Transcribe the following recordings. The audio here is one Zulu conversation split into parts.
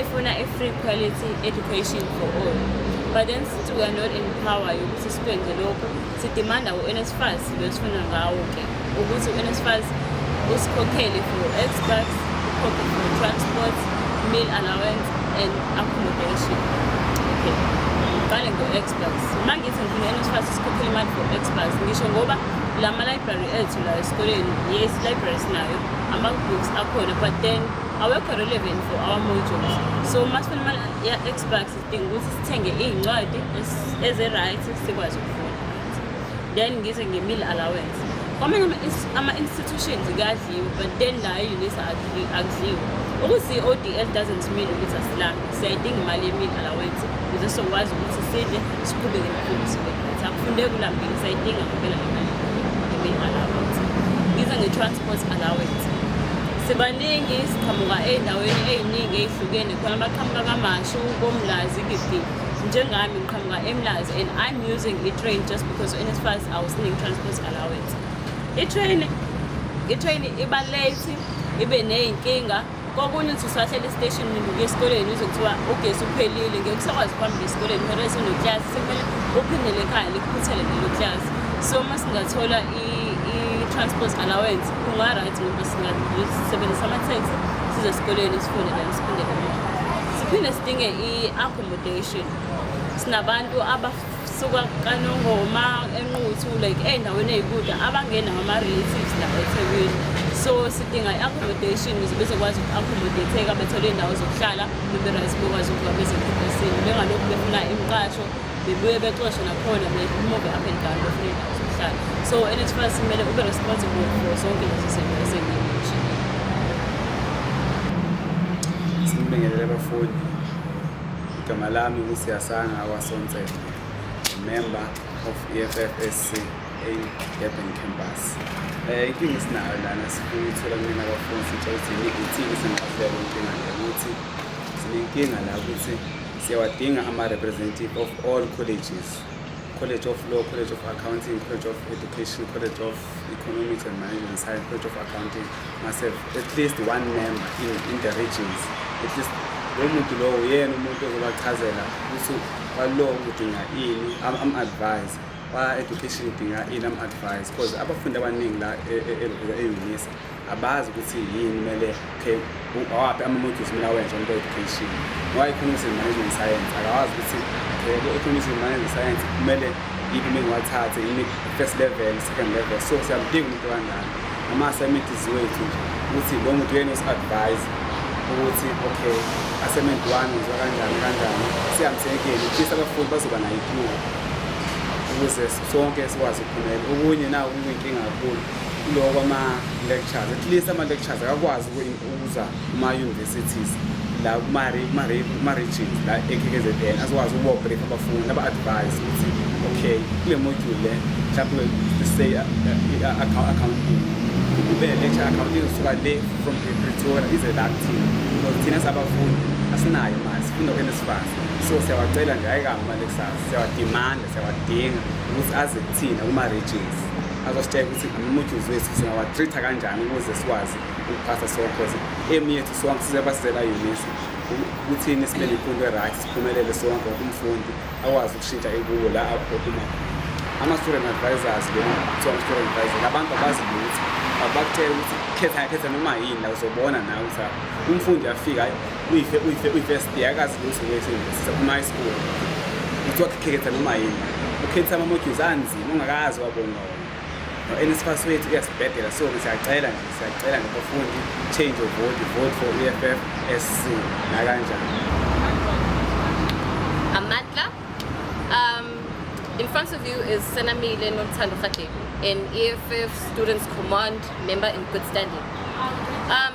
efuna i-free quality education for all but then since we are not in power yokuthi sikwenze lokho sidimanda u-nsfas lo esifuna ngawo ke ukuthi u-nsfas usikhokhele for xbox ukhokhe for transport meal allowance and accommodation okay ngiqale ngo-xbox uma ngithi ngifuna u-nsfas usikhokhele imali for xbox ngisho ngoba la ma-library ethu la esikoleni yes library sinayo ama-books akhona but then awekho relevant for our modules so uma sifuna imali ya-xbax sidinga ukuthi sithenge iy'ncwadi ezi-right sikwazi ukufunda then ngize nge-meal allowance kwamanye ama-institutions kuyadliwa but then la e-unisa akudliwa ukuthi i-o d l doesn't mean ukuthi asilambi siyayidinga imali ye-meal allowance ukuze sizokwazi ukuthi sidle siqhubeke nokufundi akufunde kulambile sayidinga ngempela le mali ye-meal allowance ngize nge-transport allowance Sibaningi siqhamuka ey'ndaweni ey'ningi ey'hlukene khona abaqhamuka kamashu komlazi gidi njengami ngiqhamuka emlazi and i'm using i-train just because unsfas awusiningi transport allowance i-train i-train iba late ibe ney'nkinga kokunye uthi usahlele estation ngibuke esikoleni uze kuthiwa ugesi uphelile ngeke usakwazi ukuhambela esikoleni kumele sinoklasi sekumele uphindele ekhaya likuphuthele lelo klasi so uma singathola i-transport allowance Kungaright ngoba singasebenzisa ama-taxi size esikoleni sifunde kanti siphinde kanjani siphinde sidinge i-accommodation sinabantu abasuka kanongoma enquthu like ey'ndaweni ey'kude abangenawo ama-relatives la ethekwini so sidinga i-accommodation ukuze bezokwazi uku-accommodateka bethole iy'ndawo zokuhlala bebe-right bokwazi ukuba bezephepesini bengalokhu befuna imiqasho bebuye bexoshe nakhona bemove up and down befuna indawo zokuhlala so NSFAS kumele ube responsible for zonke lezi zinto esengimushe sibingelele abafundi igama lami kusiyasanga wasonsela member of EFFSC eDurban campus eh inkinga esinayo lana sifuna ukuthola kumina abafundi sitshela ukuthi yini ithini sengicela inkinga ukuthi sinenkinga la ukuthi Siyawadinga ama-representative of all colleges College of Law, College of Accounting, College of Education, College of Economics and Management Science, College of Accounting, myself, at least one member in, in the regions. At least lowo muntu lowo uyena umuntu ozobachazela ukuthi kwalaw udinga ini am-advise kwa-education udinga ini am-advise because abafundi abaningi la e-unisa e, e, abazi ukuthi yini kumele okay awaphi ama-modules kumele awenze into education ngoba economics and management science akawazi ukuthi okay economics and management science kumele yiphi uma ngiwathathe yini first level second level so siyamdinga umuntu kanjani ama-assignments wethu nje ukuthi lo muntu uyena osi-advise ukuthi okay assignment one ngiziwa kanjani kanjani siyamsekeni ufisa abafundi bazoba nayo ityuba ukuze sonke sikwazi ukuphumelela okunye nawo kuyinkinga kakhulu kuloko ama-lectures at least ama-lectures akakwazi ukuza kuma-universities la kuma-regions la e-kkzn azokwazi ukubobrek abafundi aba-advise ukuthi okay kule module le mhlawumbe say uh, uh, uh, accounting kube lecture accounting suka le from pretoria ize la kuthina because thina sabafundi asinayo manje sifunda kwenesifaz so siyawacela nje ayikanga ama-lectures siyawadimanda siyawadinga ukuthi aze kuthina kuma-regions azositshela ukuthi umuthi wethu singawatreat-a kanjani ukuze sikwazi ukuphatha sonke because emi yethu sonke sisebasizela unisa kuthini sibe nemfundo e-right siphumelele sonke umfundi akwazi ukushintsha ekuwo la aphuma ama-student advisors lo kuthiwa ama-student advisor abantu abazi lutho abakutshela ukuthi khetha yakhetha noma yini la uzobona nawe ukuthi umfundi afika uyife uyife uyi-first year akazi lutho wesiyunivesithi uma high school kuthiwa khetha noma yini ukhetha ama-modules anzi ungakazi wabonga wona no-nsfas wethu uyasibhedela so siyacela nje siyacela nje bafundi change of vote vote for e f f s c nakanjani amatla um in front of you is senamile nothando rhadebe an e f f students command member in good standing um,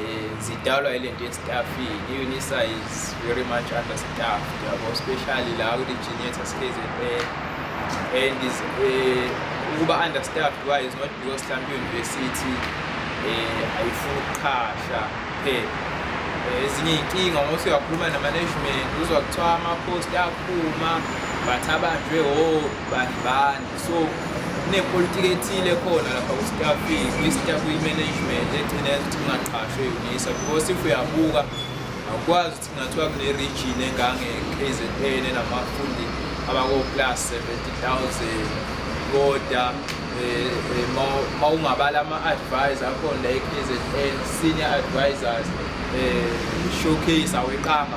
Eh, zidalwa ile nto yesitafini i-unisa is very much under staff yabo especially la kwi-geneta skzn and is eh, ukuba under staff why is not because mhlawumbe i-university um ayifuni ukuqhasha kuphela ezinye iy'nkinga ngoba usuyakhuluma namanagement uzwa kuthiwa ama-post aphuma but abanjwe o oh, bani bani so kunepolitiki ethile khona lapha ku-staff kwi-staff kwi-management egcina yazi ukuthi kungaqashwe unisa because if uyabuka akwazi ukuthi kungathiwa kune-region engange-k z n enamafundi abako-plus 70000 koda Eh, eh, ma ungabala ama-advisor akhona la e-k z n senior advisors um showcase aweqanga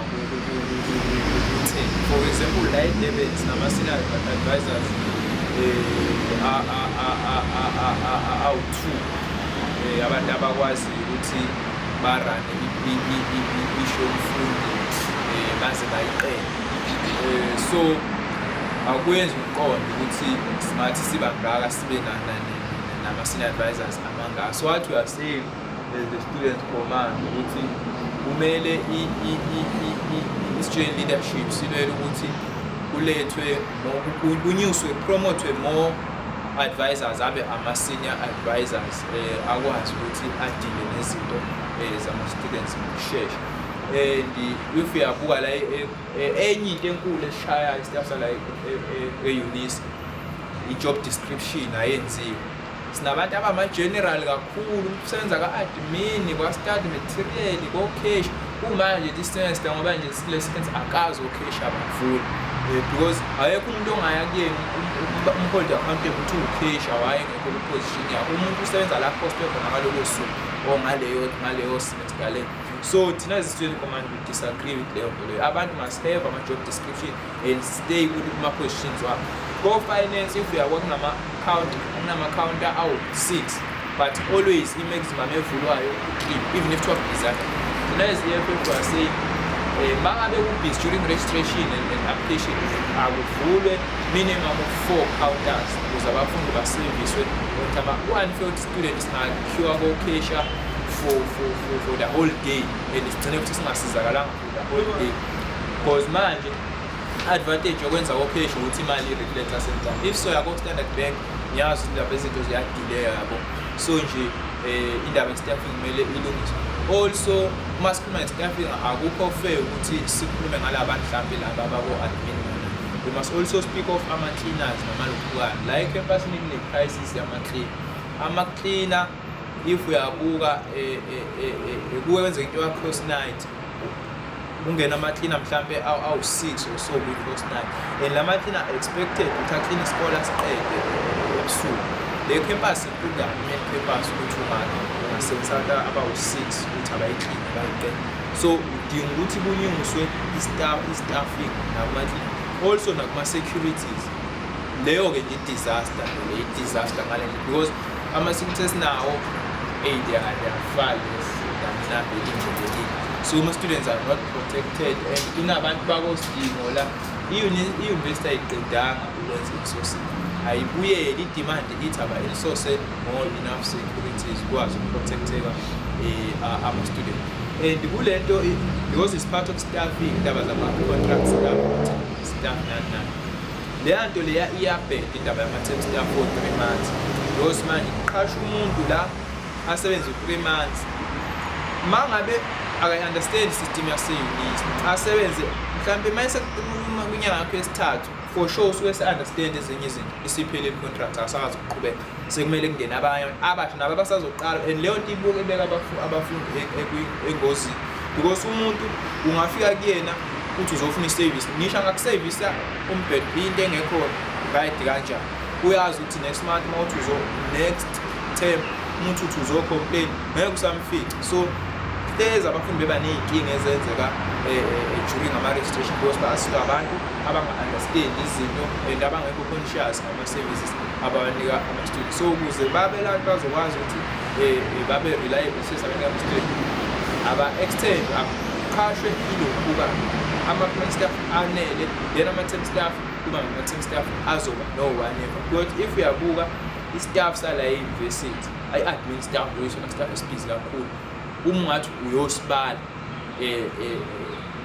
For example, la eDurban sinama-senior advisors eh, awu-two eh, abantu abakwazi ukuthi barane isho umfundi eh, baze bayiqele so akuyenzi umqondo ukuthi singathi siba ngaka sibe nana nama-senior advisors amangaka so what we are saying as the student command ukuthi kumele i-student leadership silwele ukuthi kulethwe kunyuswe promothwe more advisors abe ama-senior advisors um akwazi ukuthi adile nezinto um zama-students ngokushesha and if uyabuka la e-, e-, enye into enkulu eshaya isitafu sala e-, e-unisa i-job description ayenziwe sinabantu abama-general kakhulu senza ka-admin kwa-study material kocash kumanje disemester ngoba nje sile semester akazi ocash abafuni eh, because ayekho umuntu ongaya kuyena umhold account ukuthi ucash awaye ngekho kwiposition yakho umuntu usebenza la poste khona ngalolo suku or ngaleyo ngaleyo semester le so thina zisitsheli command we disagree with leyo nto leyo abantu must have ama-job description and stay kuthi kuma-questions wakho ko-finance if uya kwakunama-counter kunama-counter awu-six but always i-maximum evulwayo even if twelve desire thina as the eff are saying um bangabe kubhizi during registration and then application akuvulwe minimum of four counters ukuze abafundi baseviswe ukuthi ama-unfilled student singakhiwa kokesha for, for, for, for the whole day and sigcine ukuthi singasizakalanga because manje advantage yokwenza kocash ukuthi imali i-reflecta sentana if so yako standard bank ngiyazi ukuthi lapha izinto ziyadileya yabo so nje um indaba ye-staffing kumele ilungiswe also uma sikhuluma nge-staffing akukho fair ukuthi sikhulume ngala bantu mhlawumbe laba bako-admin we must also speak of ama-cleaners namalokhukayo la ekhempasini kune-crisis yama-clean ama-cleaner if uyabuka kuwenzeka into yakhosi night kungena amaklina mhlampe awu-six or so kwi-cross night and la maklina expected ukuthi aklina isikole asiqede ebusuku le campus inkulu kakhulumeni campus ukuthi ungake ungasebenzisa abantu abawu-six ukuthi abayiklini bayiqede so udinga ukuthi kunyunguswe i-staffing nakumaklina also nakuma-securities leyo-ke nje i-disaster le i-disaster ngale because Ama suit esinawo hey they are they are flawless mhlambe indlelekile so ama students are not protected and inabantu bakosidingo la i-university ayiqedanga ukwenza isource ayibuyeli i-demand ithi abayisource more enough securities kwazi ukuprotecteka eh, ama-student and kule nto because it's part of staffing indaba zama-contract staff staff nani nani leya nto leya iyabheda indaba yama-term staff o-three months because manje uqhasha umuntu la asebenze u-three months ma ngabe akayi-understand system yaseyunisi asebenze mhlawumbe uma esekuluma kwinyanga yakho yesithathu for sure usuke se-understand ezinye izinto isiphele i-contract akasakwazi ukuqhubeka sekumele kungene abanye abasha nabo abasazoqala and leyo nto ibuke ibeka abafundi e, e, engozini because umuntu ungafika kuyena ukuthi uzofuna iservice ngisho angakusevisa umbhede into engekho right kanjani uyazi ukuthi next month uma uthi uzo next term umuntu uthi uzocomplain ngeke usamfica so hlezi abafundi beba ney'nkinga ezenzeka eh, eh, eh, during ama-registration because basuke abantu abanga-understand izinto and abangekho conscious services abawanika ama-student so ukuze babe la bazokwazi ukuthi um babe reliable service abanika ama-student aba-extend aqhashwe ilokubuka ama-plan staff anele then ama-tem staff kuba ngama-tem staff azoba no-whatever but if uyabuka i-staff sala e-university i-admin staff loyisona staff esibhizi kakhulu uma ungathi uyosibala eh, eh,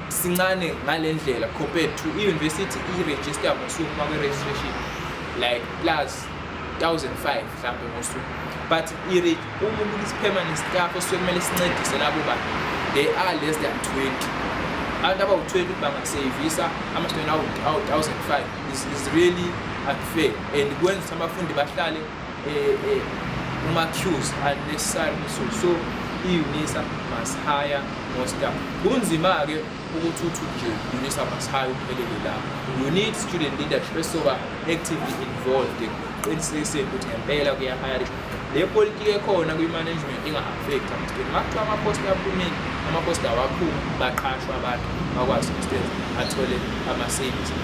sincane ngale ndlela compared to i-university i-register ngosuku uma kwe-registration like plus 1005 mhlawumbe ngosuku but uma umuntu isipermanent staff osuke kumele sincedise labo bantu they are less than 20 abantu abawu-20 ukuthi bangaseyivisa ama-student awu-1005 is really unfair and kwenza ukuthi abafundi bahlale eh, eh, kuma-cues unnecessary resource so i-unisa must hire more staff kunzima-ke ukuthi uthi nje unisa must hire uphelele lapho you need student leadership esoba actively involved ekuqinisekiseni ukuthi ngempela kuyahayari le politiki ekhona kwi-management inga-affect ama-student makuthiwa amaposta aphumile amaposta awakhulu baqashwa abantu bakwazi ukuthi athole ama-savings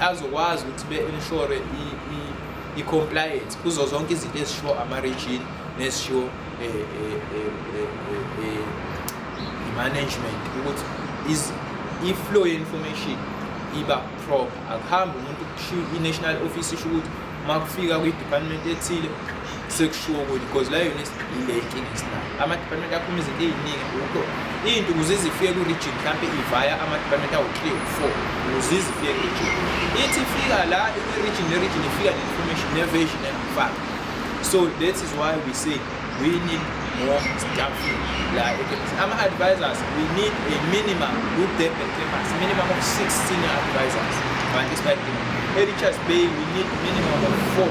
azokwazi ukuthi be-inshore i-compliance kuzo zonke izinto ezishiwo ama-region nezishiwo eh, eh, eh, i-management ukuthi i-flow ye-information iba proper akuhambi umuntu i-national office isho ukuthi uma kufika kwi-department ethile sekushiwo ukuthi because la yona ile inkinga esinayo ama-department akhuluma izinto ey'ningi kuko into ukuze izifike ku-region mhlawumpe ivaya ama-department awu-three u-four ukuze izifike ku-region ithi ifika la i-region ne-region ifika ne-information ne-version engifaka so that is why we say we need more staff la ekhemisi ama-advisors we need a minimum ku-durban campus minimum of six senior advisors bantu esibadinga e-richards bay we need minimum of four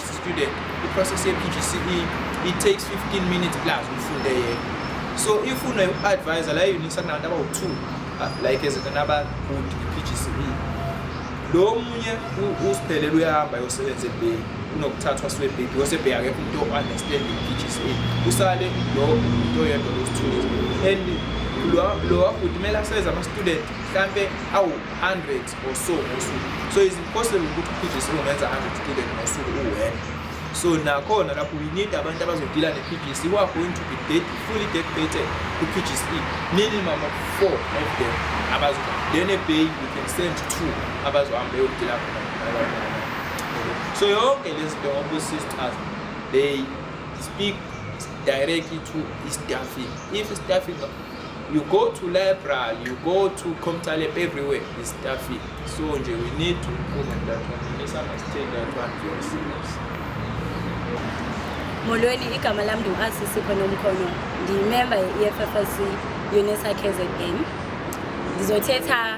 student i-process ye-pgce it takes 15 minutes plus ufunde yena so if une-advisor la eunique sakunabantu abawu-two ah, like ezekanabagud i-pgce lo munye usiphelele uyahamba yosebenza ebheki unokuthathwa swebheki because ebheki akekho umuntu o-understand i-pgce usale lo umuntu oyedwa losithuzi and lo wakuthi kumele asebenzise ama-student mhlampe awu-hundred ngosuku ngosuku so is impossible ukuthi uphinde singomenza 100 student ngosuku uwena so nakhona lapho we need abantu abazodila ne-pgc who are going to be dead, fully dedicated to pgc minimum of four of them abazoba then a bay we can send two abazohamba eyodila khona so yonke le zinto ngoba sisters they speak directly to istaffing if staffing you go to library you go to comtalep everywhere is staffing so nje we need to improve on that one we misunderstand that one very serious molweni igama lam ndiwuasisipho nomkhono ndiyimemba ye-effc unisa kzn ndizothetha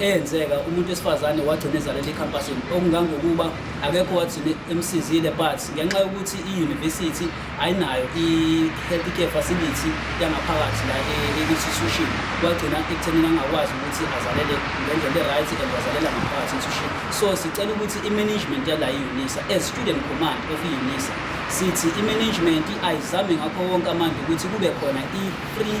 eyenzeka umuntu wesifazane wagcina ezalela ekhampasini okungangokuba akekho wagcina emsizile but ngenxa yokuthi i-university ayinayo i-health care facility yangaphakathi la e-institution wagcina ekuthenini angakwazi ukuthi azalele ngendlela e-right and wazalela ngaphakathi institution so sicela ukuthi i-management yala i-unisa as student command of i-unisa sithi i-management ayizame ngakho wonke amandla ukuthi kube khona i-free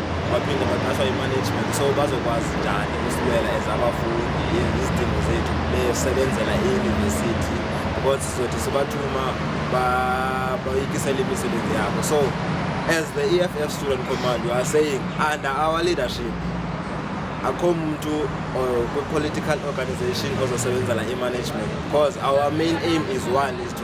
baphinde baqashwa i-management so bazokwazi njani ukusibela as abafundi izidingo zethu besebenzela i-university because sizothi sibathuma bayikisela imisebenzi yabo so as the EFF student command you are saying under our leadership akho muntu uh, kwi-political organization ozosebenzela i-management because our main aim is one is to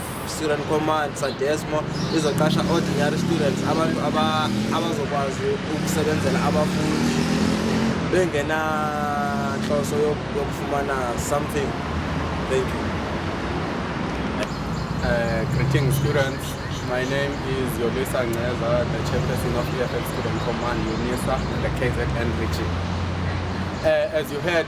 student command sadesmo izoqasha ordinary students abantu abazokwazi ukusebenzela abafundi bengenanhloso yokufumana something thank you uh, greeting students my name is yolisa ngceza the chairperson of eff student command unisa the kzn region uh, as you heard